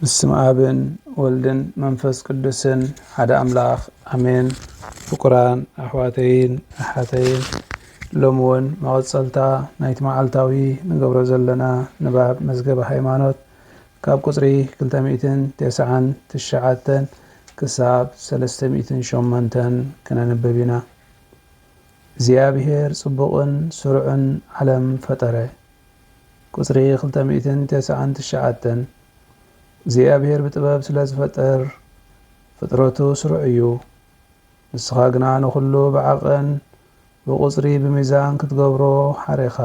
ብስም ኣብን ወልድን መንፈስ ቅዱስን ሓደ ኣምላኽ ኣሜን። ፍቁራን ኣሕዋተይን ኣሓተይን ሎሚ እውን መቐጸልታ ናይቲ መዓልታዊ ንገብሮ ዘለና ንባብ መዝገበ ሃይማኖት ካብ ቁጽሪ ክልተ ሚእትን ተስዓን ትሽዓተን ክሳብ ሰለስተ ሚእትን ሸሞንተን ክነንብብ ኢና። እግዚኣብሔር ጽቡቕን ስሩዕን ዓለም ፈጠረ። ቍጽሪ ክልተ ሚእትን ተስዓን ትሽዓተን እግዚኣብሄር ብጥበብ ስለ ዝፈጠር ፍጥረቱ ስሩዕ እዩ። ንስኻ ግና ንዅሉ ብዓቐን ብቍጽሪ ብሚዛን ክትገብሮ ሓሬኻ።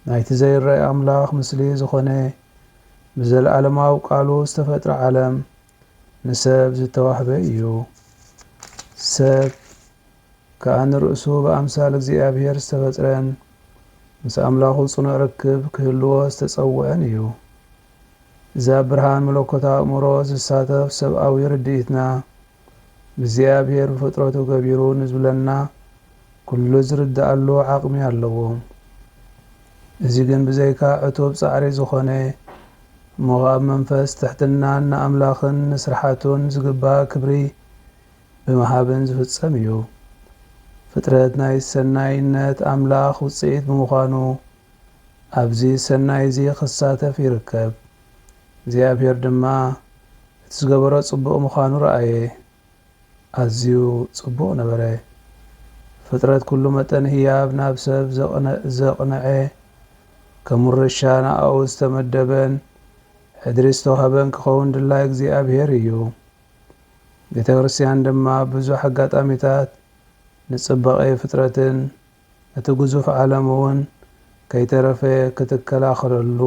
ናይቲ ዘይረኣይ ኣምላኽ ምስሊ ዝዀነ ብዘለኣለማዊ ቃሉ ዝተፈጥረ ዓለም ንሰብ ዝተዋህበ እዩ። ሰብ ከኣ ንርእሱ ብኣምሳል እግዚኣብሔር ዝተፈጥረን ምስ ኣምላኹ ጽኑዕ ርክብ ክህልዎ ዝተጸውዐን እዩ። እዚ ኣብ ብርሃን መለኮት ኣእምሮ ዝሳተፍ ሰብኣዊ ርድኢትና እግዚኣብሔር ብፍጥረቱ ገቢሩ ንዝብለና ኩሉ ዝርድኣሉ ዓቕሚ ኣለዎ። እዚ ግን ብዘይካ ዕቱብ ጻዕሪ ዝኾነ እሞ ኸኣ ብመንፈስ ትሕትናን ንኣምላኽን ንስርሓቱን ዝግባእ ክብሪ ብምሃብን ዝፍጸም እዩ። ፍጥረት ናይ ሰናይነት ኣምላኽ ውጽኢት ብምዃኑ ኣብዚ ሰናይ እዚ ክሳተፍ ይርከብ። እግዚኣብሄር ድማ እቲ ዝገበሮ ጽቡቕ ምዃኑ ረኣየ፣ ኣዝዩ ጽቡቕ ነበረ። ፍጥረት ኩሉ መጠን ህያብ ናብ ሰብ ዘቕንዐ፣ ከም ውርሻ ንኣኡ ዝተመደበን ሕድሪ ዝተዋህበን ክኸውን ድላይ እግዚኣብሔር እዩ። ቤተክርስትያን ድማ ብዙሕ ኣጋጣሚታት ንጽባቄ ፍጥረትን እቲ ግዙፍ ዓለም እውን ከይተረፈ ክትከላኸለሉ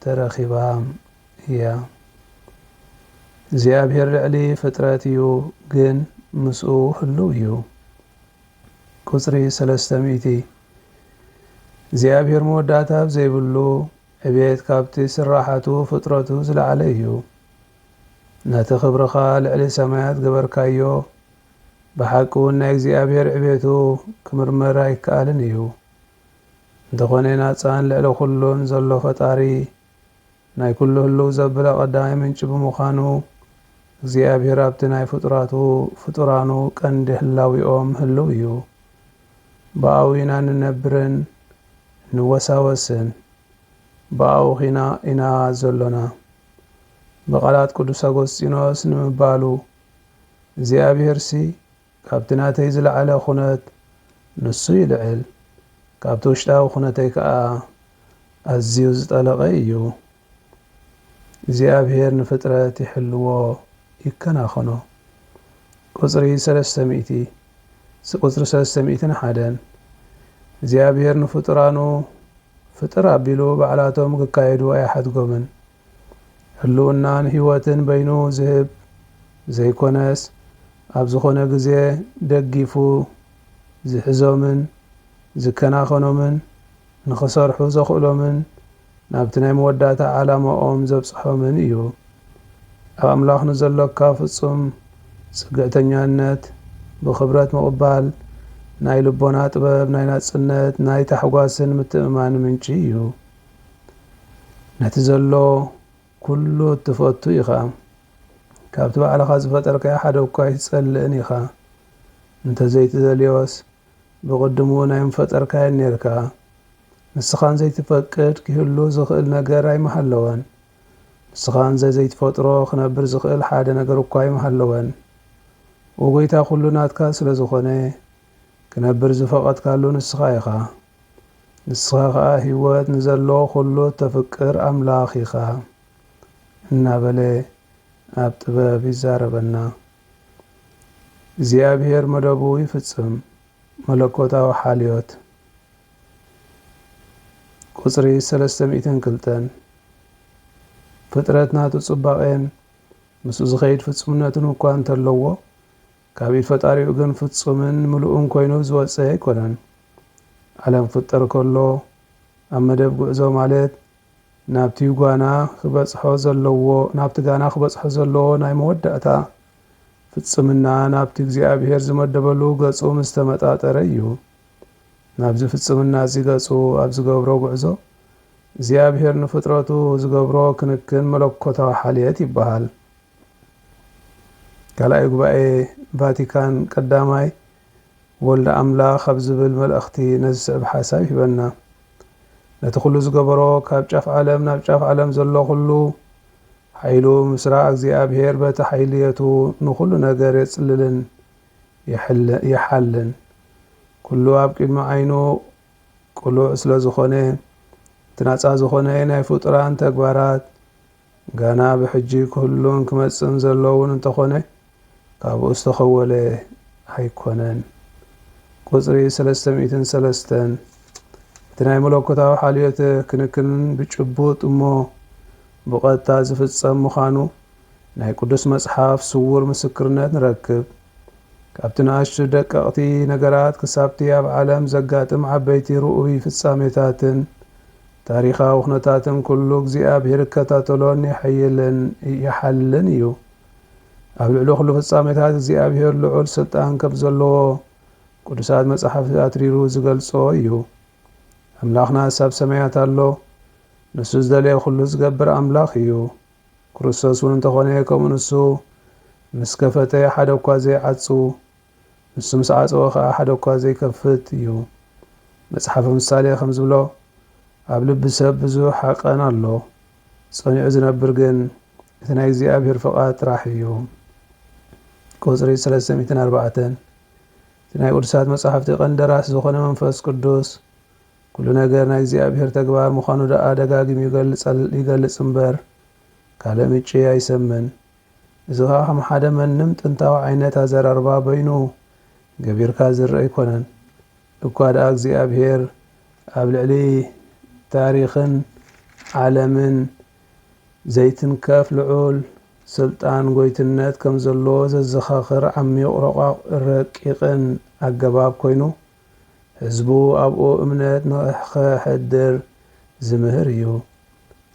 ተረኺባ እያ። እግዚኣብሄር ልዕሊ ፍጥረት እዩ ግን ምስኡ ህልው እዩ። ቁጽሪ ሰለስተ ሚእቲ፣ እግዚኣብሄር መወዳእታ ኣብ ዘይብሉ ዕቤት ካብቲ ስራሓቱ ፍጥረቱ ዝለዓለ እዩ። ነቲ ክብርኻ ልዕሊ ሰማያት ገበርካዮ፣ ብሓቂውን ናይ እግዚኣብሔር ዕቤቱ ክምርመር ኣይከኣልን እዩ። እንተኾነ ናጻን ልዕሊ ኩሉን ዘሎ ፈጣሪ ናይ ኩሉ ህልው ዘብለ ቀዳማይ ምንጪ ብምዃኑ እግዚኣብሔር ኣብቲ ናይ ፍጡራቱ ፍጡራኑ ቀንዲ ህላዊኦም ህልው እዩ። ብኣኡ ኢና እንነብርን እንወሳወስን ብኣኡ ኺና ኢና ዘሎና። ብቓላት ቅዱስ ኣጎስጢኖስ ንምባሉ፣ እግዚኣብሔርሲ ካብቲ ናተይ ዝለዓለ ኩነት ንሱ ይልዕል፣ ካብቲ ውሽጣዊ ኩነተይ ከኣ ኣዝዩ ዝጠለቐ እዩ። እግዚኣብሔር ንፍጥረት ይሕልዎ ይከናኸኖ። ቁጽሪ ሰለስተ ሚእቲ፣ ቁጽሪ ሰለስተ ሚእትን ሓደን፣ እግዚኣብሔር ንፍጡራኑ ፍጥር ኣቢሉ ባዕላቶም ክካየዱ ኣይሓድጎምን። ህልውናን ህይወትን በይኑ ዝህብ ዘይኮነስ ኣብ ዝኾነ ግዜ ደጊፉ ዝሕዞምን ዝከናኸኖምን ንኽሰርሑ ዘኽእሎምን ናብቲ ናይ መወዳእታ ዓላማኦም ዘብጽሖምን እዩ። ኣብ ኣምላኽ ንዘሎካ ፍጹም ጽግዕተኛነት ብኽብረት ምቕባል ናይ ልቦና ጥበብ ናይ ናጽነት ናይ ታሕጓስን ምትእምማንን ምንጪ እዩ። ነቲ ዘሎ ኩሉ እትፈቱ ኢኻ። ካብቲ ባዕልኻ ዝፈጠርካዮ ሓደ እኳ ኣይትጸልእን ኢኻ። እንተ ዘይትደልዮስ ብቕድሙ እውን ኣይምፈጠርካዮን ኔርካ። ንስኻን ዘይትፈቅድ ኪህሉ ዝኽእል ነገር ኣይምሃለወን። ንስኻን ዘዘይትፈጥሮ ክነብር ዝኽእል ሓደ ነገር እኳ ኣይምሃለወን። ኦጐይታ ኩሉ ናትካ ስለ ዝኾነ ክነብር ዝፈቐድካሉ ንስኻ ኢኻ። ንስኻ ኸኣ ህይወት ንዘለዎ ዅሉ እተፍቅር ኣምላኽ ኢኻ እናበለ ኣብ ጥበብ ይዛረበና። እግዚኣብሄር መደቡ ይፍጽም። መለኮታዊ ሓልዮት ቁጽሪ ሰለስተ ሚእትን ክልተን ፍጥረት ናቱ ጽባቄን ምስኡ ዝኸይድ ፍጹምነትን እኳ እንተለዎ ካብ ኢድ ፈጣሪኡ ግን ፍጹምን ምሉእን ኮይኑ ዝወጸ ኣይኮነን። ዓለም ክፍጠር ከሎ ኣብ መደብ ጉዕዞ ማለት ናብቲ ጓና ክበጽሖ ዘለዎ ናብቲ ጋና ክበጽሖ ዘለዎ ናይ መወዳእታ ፍጽምና ናብቲ እግዚኣብሄር ዝመደበሉ ገጹ ምስ ተመጣጠረ እዩ። ናብዚ ፍጽምና እዚ ገጹ ኣብ ዝገብሮ ጉዕዞ እግዚኣብሄር ንፍጥረቱ ዝገብሮ ክንክን መለኮታዊ ሓልየት ይበሃል። ካልኣይ ጉባኤ ቫቲካን ቀዳማይ ወልደ ኣምላኽ ኣብ ዝብል መልእኽቲ ነዚ ዝስዕብ ሓሳብ ይህበና። ነቲ ኩሉ ዝገበሮ ካብ ጫፍ ዓለም ናብ ጫፍ ዓለም ዘሎ ኩሉ ሓይሉ ምስራ እግዚኣብሔር በቲ ሓይልየቱ ንኹሉ ነገር የጽልልን ይሓልን ኩሉ ኣብ ቅድሚ ዓይኑ ቅሉዕ ስለ ዝኾነ እቲ ናጻ ዝኾነ ናይ ፍጡራን ተግባራት ገና ብሕጂ ክህሉን ክመጽእን ዘሎ'ውን እንተኾነ ካብኡ ዝተኸወለ ኣይኮነን። ቁጽሪ ሰለስተ ሚእትን ሰለስተን እቲ ናይ መለኮታዊ ሓልዮት ክንክንን ብጭቡጥ እሞ ብቐጥታ ዝፍጸም ምዃኑ ናይ ቅዱስ መጽሓፍ ስዉር ምስክርነት ንረክብ። ካብቲ ንኣሽቱ ደቀቕቲ ነገራት ክሳብቲ ኣብ ዓለም ዘጋጥም ዓበይቲ ርኡይ ፍጻሜታትን ታሪኻዊ ኩነታትን ኩሉ እግዚኣብሔር ይከታተሎን የሐይልን ይሓልን እዩ። ኣብ ልዕሊ ኩሉ ፍጻሜታት እግዚኣብሔር ልዑል ስልጣን ከም ዘለዎ ቅዱሳት መጻሕፍቲ ኣትሪሩ ዝገልጾ እዩ። ኣምላኽናስ ኣብ ሰማያት ኣሎ። ንሱ ዝደለየ ኩሉ ዝገብር ኣምላኽ እዩ። ክርስቶስ እውን እንተኾነ ከምኡ ንሱ ምስ ከፈተ ሓደ እኳ ዘይዓጹ ንሱ ምስ ዓጸወ ኸኣ ሓደ እኳ ዘይከፍት እዩ። መጽሓፈ ምሳሌ ከም ዝብሎ፣ ኣብ ልቢ ሰብ ብዙሕ ሃቀን ኣሎ፣ ጸኒዑ ዝነብር ግን እቲ ናይ እግዚኣብሔር ፍቓድ ጥራሕ እዩ። ቁጽሪ ሰለስተ ሚእትን ኣርባዕተን እቲ ናይ ቅዱሳት መጻሕፍቲ ቀንዲ ደራሲ ዝኾነ መንፈስ ቅዱስ ኩሉ ነገር ናይ እግዚኣብሔር ተግባር ምዃኑ ደኣ ደጋጊሙ ይገልጽ እምበር ካልእ ምጭ ኣይሰምን። እዚ ከኣ ከም ሓደ መንም ጥንታዊ ዓይነት ኣዘራርባ በይኑ ገቢርካ ዝርእ ኣይኮነን። እኳ ደኣ እግዚኣብሔር ኣብ ልዕሊ ታሪኽን ዓለምን ዘይትንከፍ ልዑል ስልጣን ጎይትነት ከም ዘለዎ ዘዘኻኽር ዓሚቕ ረቋቕ ረቂቕን ኣገባብ ኮይኑ ህዝቡ ኣብኡ እምነት ንኸሕድር ዝምህር እዩ።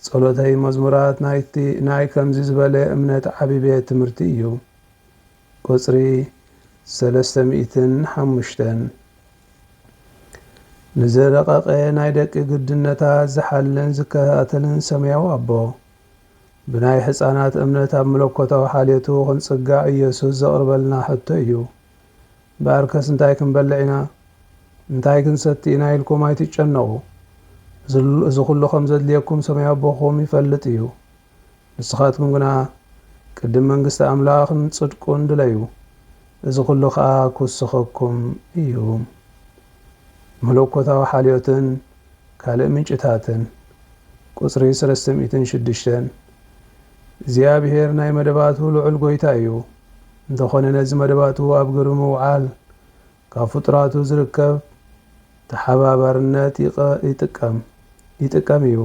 ጸሎተይ መዝሙራት ናይቲ ናይ ከምዚ ዝበለ እምነት ዓቢ ቤት ትምህርቲ እዩ። ቁጽሪ ሰለስተ ሚእትን ሓሙሽተን ንዝረቐቐ ናይ ደቂ ግድነታት ዝሓልን ዝከታተልን ሰማያዊ ኣቦ፣ ብናይ ሕጻናት እምነት ኣብ መለኮታዊ ሓልዮቱ ክንጽጋዕ ኢየሱስ ዘቕርበልና ሕቶ እዩ። እምበኣርከስ እንታይ ክንበልዕ ኢና፣ እንታይ ክንሰቲ ኢና ኢልኩም ኣይትጨነቑ፣ እዚ ዅሉ ኸም ዘድልየኩም ሰማያዊ ኣቦኹም ይፈልጥ እዩ። ንስኻትኩም ግና ቅድም መንግስቲ ኣምላኽን ጽድቁን ድለዩ፣ እዚ ዅሉ ኸኣ ኪውሰኸኩም እዩ። መለኮታዊ ሓልዮትን ካልእ ምንጭታትን። ቍጽሪ ሰለስተ ሚእትን ሽዱሽተን። እግዚኣብሔር ናይ መደባቱ ልዑል ጎይታ እዩ። እንተኾነ ነዚ መደባቱ ኣብ ግብሪ ምውዓል ካብ ፍጡራቱ ዝርከብ ተሓባባርነት ይጥቀም ይጥቀም እዩ።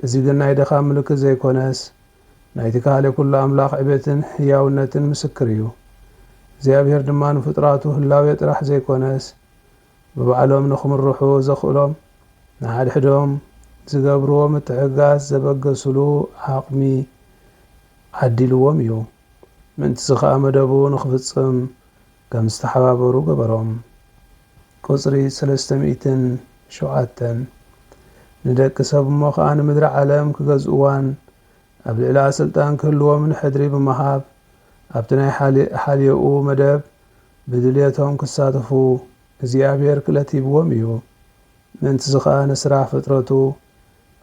እዚ ግን ናይ ድኻም ምልክት ዘይኮነስ ናይቲ ካልእ ኩሉ ኣምላኽ ዕቤትን ሕያውነትን ምስክር እዩ። እግዚኣብሔር ድማ ንፍጡራቱ ህላዌ ጥራሕ ዘይኮነስ ብባዕሎም ንክምርሑ ዘኽእሎም ንሓድሕዶም ዝገብርዎ ምትሕግጋዝ ዘበገስሉ ዓቕሚ ዓዲልዎም እዩ። ምእንት'ዚ ከኣ መደቡ ንክፍጽም ከም ዝተሓባበሩ ገበሮም። ቁጽሪ ሰለስተ ሚእትን ሸውዓተን፣ ንደቂ ሰብ እሞ ከኣ ንምድሪ ዓለም ክገዝእዋን ኣብ ልዕሊኣ ስልጣን ክህልዎምን ሕድሪ ብምሃብ ኣብቲ ናይ ሓልዮኡ መደብ ብድልየቶም ክሳተፉ እግዚኣብሔር ክእለት ሂብዎም እዩ። ምእንትዚ ከኣ ንስራሕ ፍጥረቱ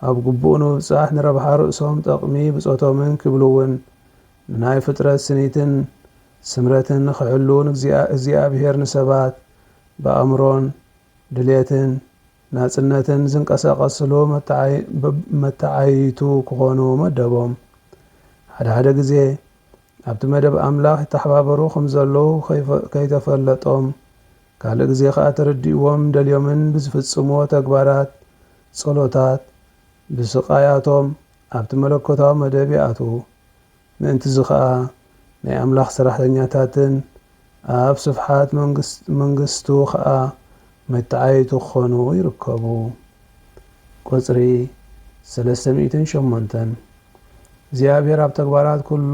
ኣብ ግቡእ ንምብጻሕ ንረብሓ ርእሶም ጠቕሚ ብጾቶምን ክብልውን ንናይ ፍጥረት ስኒትን ስምረትን ንክሕልው ንእግዚኣብሔር ንሰባት ብኣእምሮን ድልየትን ናጽነትን ዝንቀሳቐስሉ መተዓይይቱ ክኾኑ መደቦም። ሓድሓደ ግዜ ኣብቲ መደብ ኣምላኽ ይተሓባበሩ ኸም ዘለዉ ከይተፈለጦም ካልእ ግዜ ኸኣ ተረዲእዎም ደልዮምን ብዝፍጽምዎ ተግባራት ጸሎታት ብስቓያቶም ኣብቲ መለኮታዊ መደብ ይኣትዉ። ምእንትዚ ኸኣ ናይ ኣምላኽ ሰራሕተኛታትን ኣብ ስፍሓት መንግስቱ ከኣ መተዓይይቲ ክኾኑ ይርከቡ። ቍጽሪ ሰለስተ ሚእትን ሸሞንተን፣ እግዚኣብሔር ኣብ ተግባራት ኩሉ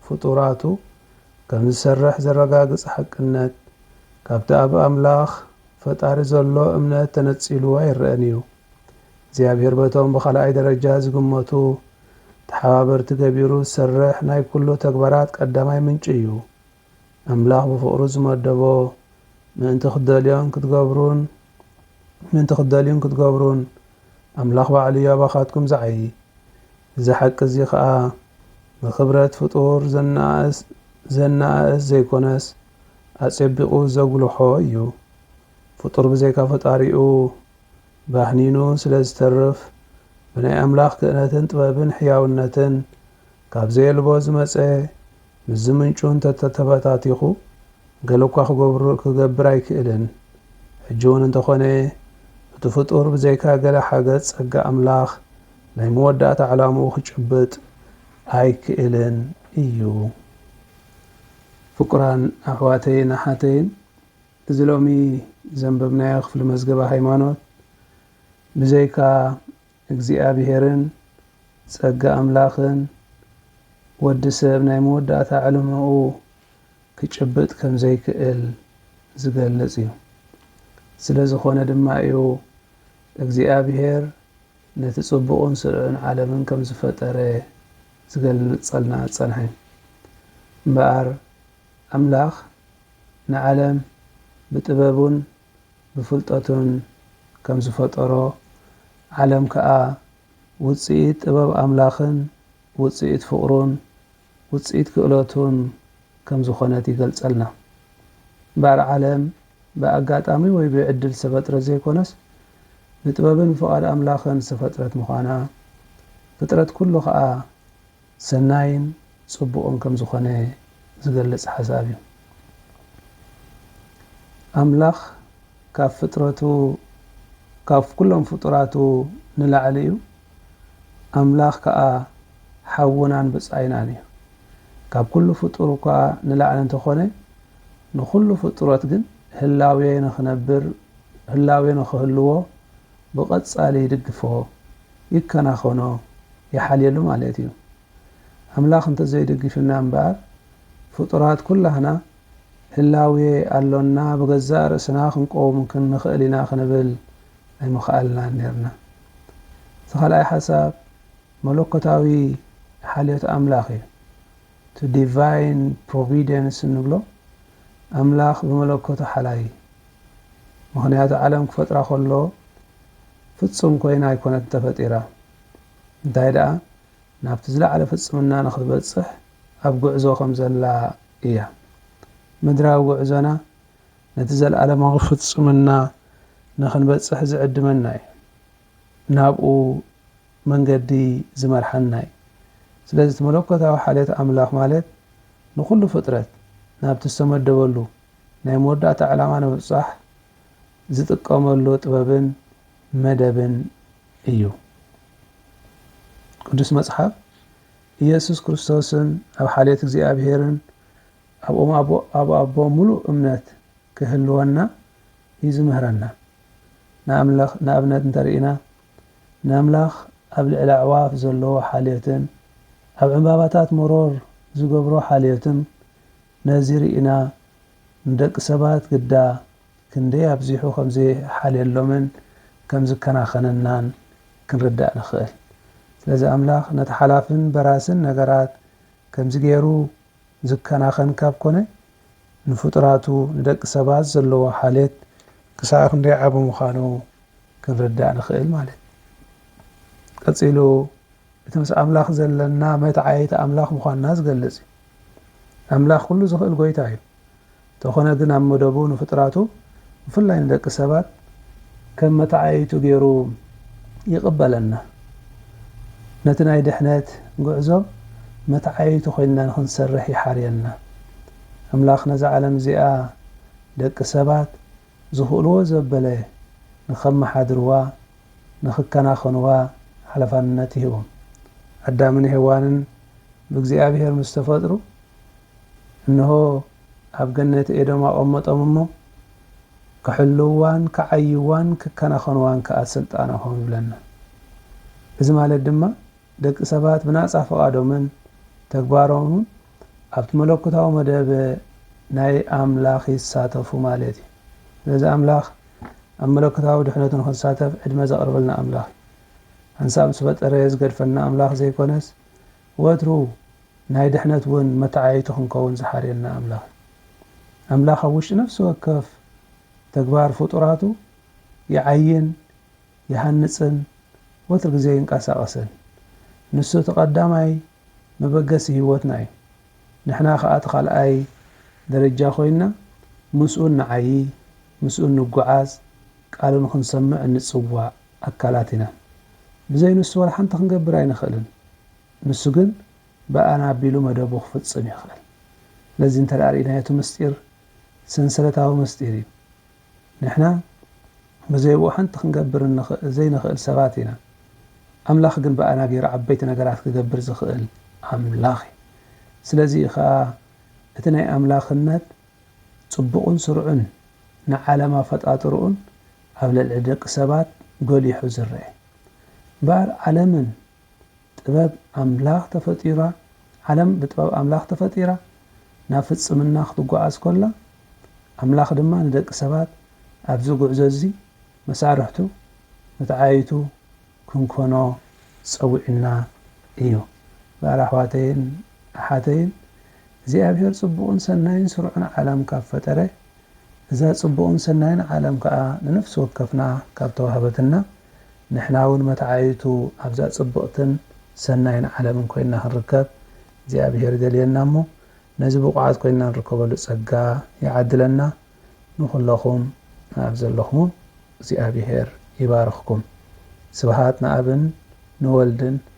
ፍጡራቱ ከም ዝሰርሕ ዘረጋግጽ ሓቅነት፣ ካብቲ ኣብ ኣምላኽ ፈጣሪ ዘሎ እምነት ተነጺሉ ኣይረኣን እዩ። እግዚኣብሔር በቶም ብኻልኣይ ደረጃ ዝግመቱ ተሓባበርቲ ገቢሩ ዝሰርሕ ናይ ኩሉ ተግባራት ቀዳማይ ምንጪ እዩ። ኣምላኽ ብፍቕሩ ዝመደቦ ምእንቲ ክትደልዮን ክትገብሩን ምእንቲ ክትደልዩን ክትገብሩን ኣምላኽ ባዕሉ እዩ ኣባኻትኩም ዝዓዪ። እዚ ሓቂ እዚ ኸኣ ንኽብረት ፍጡር ዘነኣእስ ዘነኣእስ ዘይኰነስ ኣጼቢቑ ዘጕልሖ እዩ። ፍጡር ብዘይካ ፈጣሪኡ ባህኒኑ ስለ ዝተርፍ ብናይ ኣምላኽ ክእለትን ጥበብን ሕያውነትን ካብ ዘየልቦ ዝመጸ ምስዚ ምንጩ እንተተተበታቲኹ ገለኳ ክገብሩ ክገብር ኣይክእልን። ሕጂውን እንተኾነ እቲ ፍጡር ብዘይካ ገለ ሓገጽ ጸጋ ኣምላኽ ናይ መወዳእታ ዕላምኡ ክጭብጥ ኣይክእልን እዩ። ፍቁራን ኣሕዋተይን ኣሓተይን እዚ ሎሚ ዘንበብናዮ ክፍሊ መዝገበ ሃይማኖት ብዘይካ እግዚኣብሔርን ጸጋ ኣምላኽን ወዲ ሰብ ናይ መወዳእታ ዕልማኡ ክጭብጥ ከም ዘይክእል ዝገልጽ እዩ። ስለ ዝኾነ ድማ እዩ እግዚኣብሔር ነቲ ጽቡቕን ስርዑን ዓለምን ከም ዝፈጠረ ዝገልጸልና ዝጸንሐ። እምበኣር ኣምላኽ ንዓለም ብጥበቡን ብፍልጠቱን ከም ዝፈጠሮ፣ ዓለም ከኣ ውጽኢት ጥበብ ኣምላኽን ውጽኢት ፍቕሩን ውጽኢት ክእለቱን ከም ዝኾነት ይገልጸልና። እምበኣር ዓለም ብኣጋጣሚ ወይ ብዕድል ዝተፈጥረት ዘይኮነስ ብጥበብን ፍቓድ ኣምላኽን ዝተፈጥረት ምዃና፣ ፍጥረት ኩሉ ከኣ፣ ሰናይን ጽቡቕን ከም ዝኾነ ዝገልጽ ሓሳብ እዩ። ኣምላኽ ካብ ፍጥረቱ ካብ ኩሎም ፍጡራቱ ንላዕሊ እዩ። ኣምላኽ ከኣ ሓውናን ብጻይናን እዩ። ካብ ኩሉ ፍጡር እኳ ንላዕሊ እንተኾነ ንኹሉ ፍጡረት ግን ህላዌ ንኽነብር ህላዌ ንኽህልዎ ብቐጻሊ ይድግፎ፣ ይከናኸኖ፣ ይሓልየሉ ማለት እዩ። ኣምላኽ እንተዘይደጊፉና እምበኣር ፍጡራት ኩላህና ህላዌ ኣሎና ብገዛእ ርእስና ክንቆውም ክንኽእል ኢና ክንብል ኣይምኸኣልናን ኔርና። እቲ ካልኣይ ሓሳብ መለኮታዊ ሓልዮት ኣምላኽ እዩ። እቲ ዲቫይን ፕሮቪደንስ እንብሎ ኣምላኽ ብመለኮቱ ሓላይ እዩ። ምኽንያቱ ዓለም ክፈጥራ ከሎ ፍጹም ኮይና ኣይኮነትን ተፈጢራ፣ እንታይ ደኣ ናብቲ ዝለዓለ ፍጽምና ንኽትበጽሕ ኣብ ጉዕዞ ከም ዘላ እያ። ምድራዊ ጉዕዞና ነቲ ዘለኣለማዊ ፍጽምና ንኽንበጽሕ ዝዕድመና እዩ፣ ናብኡ መንገዲ ዝመርሓና እዩ። ስለዚ እቲ መለኮታዊ ሓልዮት ኣምላኽ ማለት ንኹሉ ፍጥረት ናብቲ ዝተመደበሉ ናይ መወዳእታ ዕላማ ንምብጻሕ ዝጥቀመሉ ጥበብን መደብን እዩ። ቅዱስ መጽሓፍ ኢየሱስ ክርስቶስን ኣብ ሓልዮት እግዚኣብሔርን ኣብኦም ኣቦ ኣብ ኣቦ ምሉእ እምነት ክህልወና እዩ ዝምህረና። ንኣምላኽ ንኣብነት እንተርኢና ንኣምላኽ ኣብ ልዕሊ ኣዕዋፍ ዘለዎ ሓልዮትን ኣብ ዕምባባታት መሮር ዝገብሮ ሓልዮትን ነዚ ርኢና ንደቂ ሰባት ግዳ ክንደይ ኣብዚሑ ከም ዘይሓልየሎምን ከም ዝከናኸነናን ክንርዳእ ንኽእል። ስለዚ ኣምላኽ ነቲ ሓላፍን በራስን ነገራት ከምዚ ገይሩ ዝከናኸን ካብ ኮነ፣ ንፍጡራቱ ንደቂ ሰባት ዘለዎ ሓልየት ክሳዕ ክንደይ ዓቢ ምዃኑ ክንርዳእ ንኽእል ማለት እዩ። ቀጺሉ እቲ ምስ ኣምላኽ ዘለና መትዓይት ኣምላኽ ምዃንና ዝገልጽ እዩ። ኣምላኽ ኩሉ ዝኽእል ጎይታ እዩ እንተኾነ ግን ኣብ መደቡ ንፍጥራቱ ብፍላይ ንደቂ ሰባት ከም መተዓየይቱ ገይሩ ይቕበለና ነቲ ናይ ድሕነት ጉዕዞ መተዓየይቱ ኮይንና ንኽንሰርሕ ይሓርየና ኣምላኽ ነዛ ዓለም እዚኣ ደቂ ሰባት ዝኽእልዎ ዘበለ ንኸመሓድርዋ፣ ንኽከናኸንዋ ሓለፋንነት ይህቦም። ኣዳምን ሄዋንን ብእግዚኣብሔር ምስ ተፈጥሩ፣ እንሆ ኣብ ገነት ኤዶም ኣቐመጦም እሞ፣ ክሕልውዋን ክዓይዋን ክከናኸንዋን ከኣ ሥልጣን ኣኾም ይብለና። እዚ ማለት ድማ ደቂ ሰባት ብናጻ ፍቓዶምን ተግባሮምን ኣብቲ መለኮታዊ መደብ ናይ ኣምላኽ ይሳተፉ ማለት እዩ። ስለዚ ኣምላኽ ኣብ መለኮታዊ ድሕነቱ ንኽንሳተፍ ዕድመ ዘቕርበልና ኣምላኽ እዩ። ሓንሳብ ምስ ፈጠረ ዝገድፈና ኣምላኽ ዘይኮነስ ወትሩ ናይ ድሕነት እውን መተዓይይቱ ክንከውን ዝሓርየና ኣምላኽ እዩ። ኣምላኽ ኣብ ውሽጢ ነፍሲ ወከፍ ተግባር ፍጡራቱ ይዓይን፣ ይሃንጽን ወትሩ ግዜ ይንቀሳቐስን። ንሱ እቲ ቀዳማይ መበገሲ ህይወትና እዩ። ንሕና ከኣ እቲ ካልኣይ ደረጃ ኮይንና ምስኡ እንዓዪ፣ ምስኡ እንጉዓዝ፣ ቃሉ ንኽንሰምዕ እንጽዋዕ ኣካላት ኢና። ብዘይ ንሱ ወላ ሓንቲ ክንገብር ኣይንኽእልን። ንሱ ግን ብኣና ኣቢሉ መደቡ ክፍጽም ይኽእል። ነዚ እንተ ርኢናዮ እቲ ምስጢር ሰንሰለታዊ ምስጢር እዩ። ንሕና ብዘይብኡ ሓንቲ ክንገብር ዘይንኽእል ሰባት ኢና፣ ኣምላኽ ግን ብኣና ገይሩ ዓበይቲ ነገራት ክገብር ዝኽእል ኣምላኽ እዩ። ስለዚ እዩ ኸኣ እቲ ናይ ኣምላኽነት ጽቡቕን ስሩዕን ንዓለም ኣፈጣጥርኡን ኣብ ልዕሊ ደቂ ሰባት ጎሊሑ ዝርኤ። እምበኣር ዓለምን ጥበብ ኣምላኽ ተፈጢራ ዓለም ብጥበብ ኣምላኽ ተፈጢራ ናብ ፍጽምና ክትጓዓዝ ከላ ኣምላኽ ድማ ንደቂ ሰባት ኣብዚ ጉዕዞ እዚ መሳርሕቱ መትዓይይቱ ክንኮኖ ጸዊዑና እዩ ጋል ኣሕዋተይን ኣሓተይን እግዚኣብሄር ጽቡቅን ሰናይን ስሩዕን ዓለም ካብ ፈጠረ እዛ ጽቡቕን ሰናይን ዓለም ከኣ ንነፍሲ ወከፍና ካብ ተዋህበትና፣ ንሕናውን መተዓይይቱ ኣብዛ ጽብቕትን ሰናይን ዓለምን ኮይንና ክንርከብ እግዚኣብሄር ይደልየና እሞ ነዚ ብቑዓት ኮይንና ንርከበሉ ጸጋ ይዓድለና። ንኹለኹም ኣብ ዘለኹሞ እግዚኣብሄር ይባርኽኩም። ስብሃት ንኣብን ንወልድን